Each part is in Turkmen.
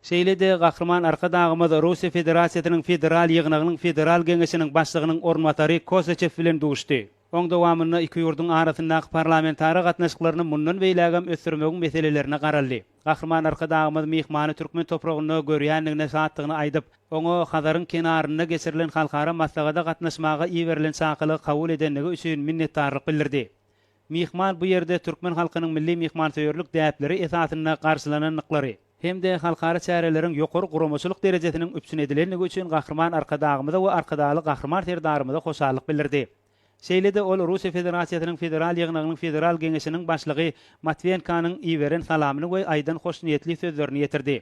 Şeýle-de Gahryman Arkadagymyz Russiýa Federasiýasynyň Federal Ýygnagynyň Federal Geňeşiniň Başlygynyň orunbasary Kosaçew bilen duşdy. Oň dowamynda iki ýurduň arasyndaky parlamentara gatnaşyklaryny mundan beýlägem ösdürmegiň meselelerine garaldy. Gahryman Arkadagymyz myhmany türkmen topragynda görýändigine şatdygyny aýdyp, oňa Hazaryň kenarynda geçirilen halkara maslahata gatnaşmaga iberilen çakylygy kabul edendigi üçin minnetdarlyk bildirdi. Myhman bu ýerde türkmen halkynyň milli myhmansöýerlik däpleri esasynda garşylanandyklary hem-de halkara çäreleriň ýokary guramaçylyk derejesiniň üpjün edilendigi üçin Gahryman Arkadagymyza we Arkadagly Gahryman Serdarymyza hoşallyk bildirdi. Şeýle-de ol Russiýa Federasiýasynyň Federal Ýygnagynyň Federal Geňeşiniň Başlygy Matwenkanyň iberen salamyny we aýdan hoşniýetli sözlerini ýetirdi.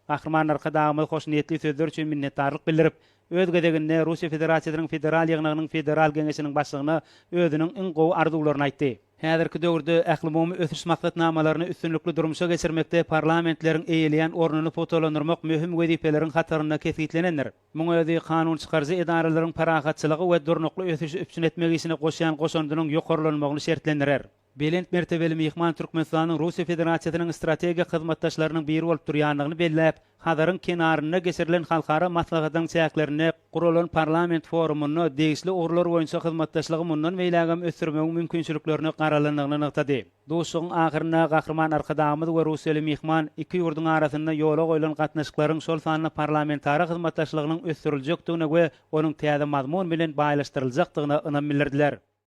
Gahryman Arkadagymyz hoşniýetli sözler üçin minnetdarlyk bildirip, öz gezeginde Russiýa Federasiýasynyň Federal Ýygnagynyň Federal Geňeşiniň Başlygyna özüniň iň gowy arzuwlaryny aýtdy. Häzirki döwürde ählumumy ösüş maksatnamalaryny üstünlikli durmuşa geçirmekde parlamentleriň eýeleýän ornuny pugtalandyrmak möhüm wezipeleriň hatarynda kesgitlenendir. Muň özi kanun çykaryjy edaralaryň parahatçylygy we durnukly ösüşi üpjün etmek işine goşýan goşandynyň ýokarlanmagyny şertlendirer. Belent mertebeli myhman Türkmenistanyň Russiýa Federasiýasynyň strategik hyzmatdaşlarynyň biri bolup durýandygyny belläp, Hazaryň kenarynda geçirilen halkara maslahatynyň çäklerinde guralan parlament forumynda degişli ugurlar boýunça hyzmatdaşlygy mundan beýlägem ösdürmegiň mümkinçiliklerine garalandygyny nygtady. Duşuşygyň ahyrynda Gahryman Arkadagymyz we russiýaly myhman iki ýurduň arasynda ýola goýlan gatnaşyklaryň, şol sanda parlamentara hyzmatdaşlygynyň ösdüriljekdigine we onuň täze mazmun bilen baýlaşdyryljakdygyna ynam bildirdiler.